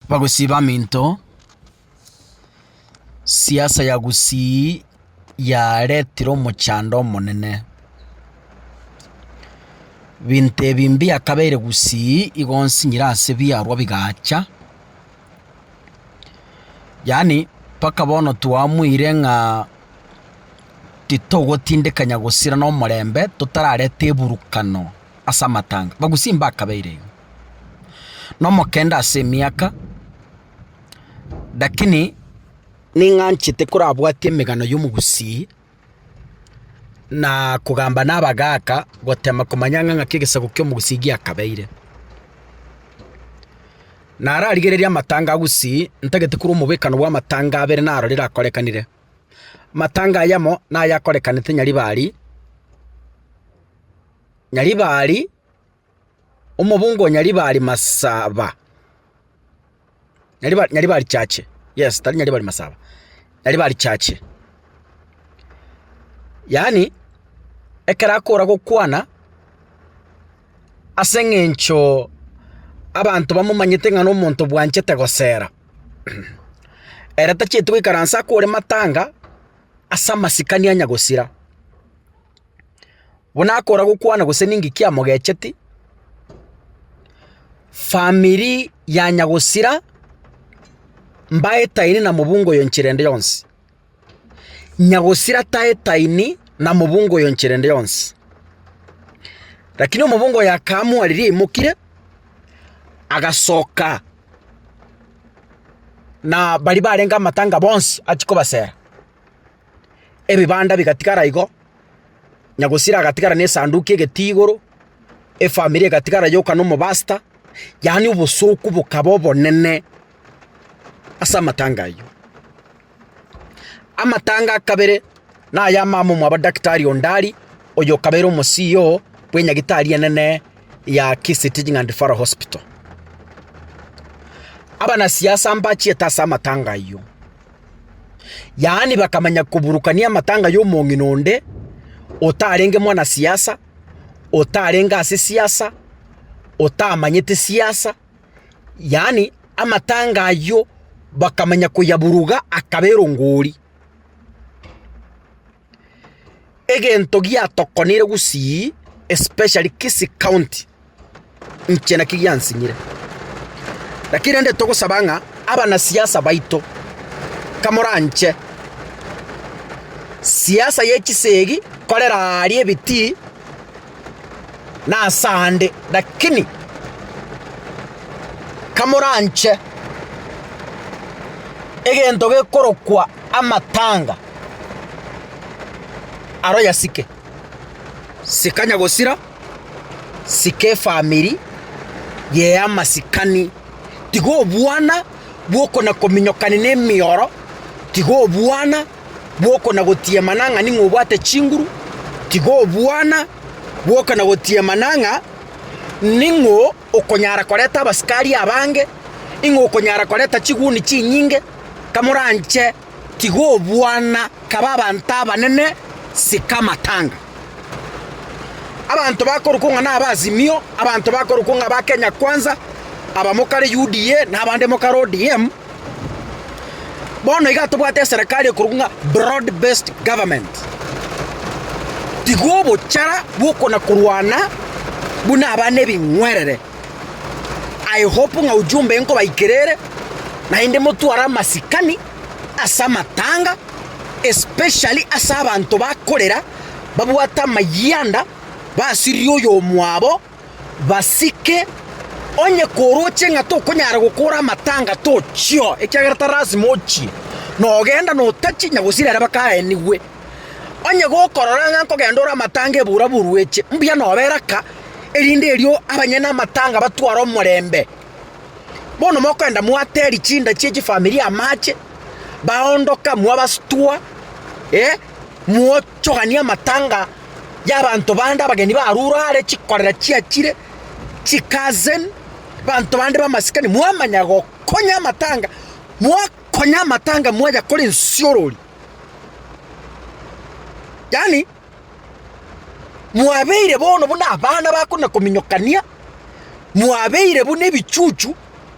Bagosiba aminto, siasa ya Gusii yaretire omochando omonene. Binto ebi mbiakabeire Gusii igo nsinyire ase biarwa bigacha, yaani mpaka bono twamoire ng'a titogotindekanya gosira nomorembe totarareta eburukano ase amatanga. Bagusii mbakabeire igo. nomokende ase emiaka, lakini ning'anchete korabwatia emegano y'omogusii, na kogamba nabagaaka gotema komanya ng'a ng'aki egesaku ki'omogusii giakabeire. Nararigereria amatanga agusii, ntagete korwa omobekano bw'amatanga abere narore rakorekanire. Amatanga aya amo, nayakorekanete Nyaribari, Nyaribari. Omobunga o Nyaribari Masaba, Nyariba Nyaribari Chache, yes, tari Nyaribari Masaba, Nyaribari Chache. Yaani, ekero akora gokwana, ase eng'encho abanto bamomanyete ng'a nomonto bwanchete gosera, ere tachieti goikaransa akore matanga as'amasikani anya gosira. buna akora gokwana gose ninki kiamogecheti, famiri ya nyagosira mbaetaine na mobungo oyo enchera ende yonsi. Nyagosira taetaini na mobungo oyo enchera ende yonsi. Rakini omobungo oyo akaamua riria aimokire, agasoka na baria barenge amatanga bonsi achia kobasera. ebibanda bigatigara igo, Nyagusira agatigara n'esanduki egeti igoro, efamiri egatigara yoka n'omobasta, yaani obosooku bokaba obonene ase amatanga ayio. Amatanga a kabere na aya mama omwabo Daktari Ondari, oyo okabeire omo CEO bw'enyagitari enene ya Kisii Teaching and Referral Hospital. Abanasiasa mbachiete ase amatanga ayio. Yaani bakamanya koburukania amatanga y'omong'ina onde otarenge mwanasiasa, otarenge ase siasa, otamanyete siasa, yaani amatanga ayio bakamanya koyaburuga akaba erongori. egento giatokonire gusii especially Kisii county, inche naki giansinyire. Lakini rende togosaba ng'a abanasiasa baito kamoranche siasa ye chisegi korera aaria ebitii. nasande, lakini kamoranche egento gekorokwa amatanga aro yasike, sikanya gosira, sika efamiri yea amasikani, tiga obwana bw'okona kominyokani na emioro, tiga obwana. Bwoka na gotiemana ng'a ning'o obwate chinguru, tiga obwana, bwoka na gotiemana ng'a ning'o okonyara koreta abasikari abange, ning'o okonyara koreta chiguni chinyinge, kamoranche, tiga obwana, kaba abanto abanene, sika amatanga. Abanto bakorokwo ng'a naba Azimio, abanto bakorokwo ng'a ba Kenya Kwanza, abamo kare UDA, na abande mo kare ODM. Bono iga tobwate eserekari ekorokwa ng'a broad based government. Tiga obochara bw'okona korwana buna aba nebing'werere. I hope ng'a ujumbe nkobaikera ere naende motware amasikani ase amatanga especially ase abanto bakorera babwate amayianda basiririe oyomwabo. basike, onye koroche ng'a tokonyara gokora amatanga tochio, ekiagera tari lasima ochie, nogenda notachie onye gosira ere bakaenigwe. Onye gokorora ng'a nkogenda ore amatanga ebura borueche, mbuya nobera aka, erinde erio abanyene amatanga batware omorembe. Bono mokoenda mwateri chinda chie chifamilia amache, baondoka mwabastua, eh, mwo. Chogania amatanga y'abanto bande abageni barure are chikorera chiachire, chikazen, banto bande b'amasikani, mwamanya gokonya amatanga, mwakonya amatanga mwayakora ensiorori. Yaani, mwabeire bono buna abana bakona kominyokania, mwabeire buna ebichuchu.